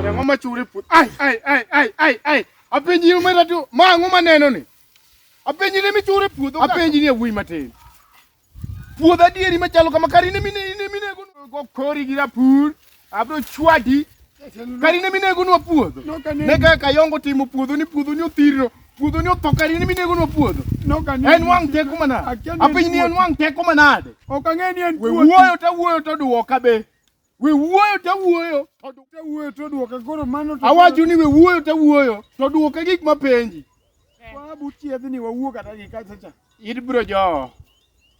Remo machuri put. Ai ai ai ai ai ai. Apenji ni mera tu. Ma ang'o maneno ni? Apenji ni michuri puodho. Apenji ni e wuoyi matin. Puodho adieri machalo kama kari ne mine ne mine go kori gi rapur abro chwadi kari ne mine go nwa puodho ne ka kayongo timo puodho ni puodho ni othiro puodho ni otho kari ne mine go nwa puodho en wang teko manade apiny ni en wang teko manade ok ang'e ni en wuoyo to wuoyo to duoka be We wuoyo to awuoyo. Awuoyo to duoka koro mano to. Awacho ni we wuoyo to awuoyo to duoka gik mapenji. Wabu chiedhni wawuo kata gi kacha cha. Ibro joo.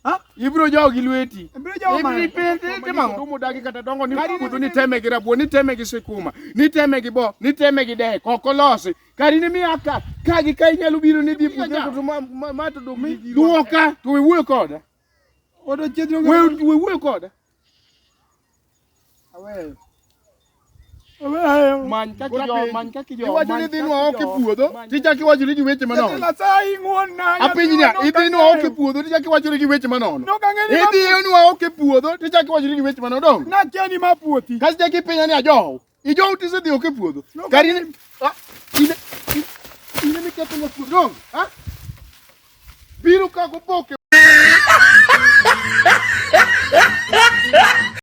Ha? Ibro joo gi lweti. Ibro joo ma. Ibri pete te mango. Dumo dagi kata dongo ni kudu ni teme gi rabuo ni teme gi sikuma ni teme gi bo ni teme gi dek oko losi. Kari ni mi aka ka gi ka inyalo biro ni dhi puonjo to ma to duoka to we wuoyo koda. Odo chiedro. We we koda. Aweyo. Many kaka jo, many kaka jo. Iwacho ni dhinwa ok e puodho, tichaki wacho ni weche manono. Nyasaye ng'wonna. Apiny niya, idhinwa ok e puodho, tichaki wacho ni weche manono. Idhinwa ok e puodho, tichaki wacho ni weche manono. Nakia ni ma puothi. Kasi chaki pinya ni ajow. Ijo uti se dioke puodho. Kari ne ah ine ine mi keto mo puodho. Ah. Biro ka go boke.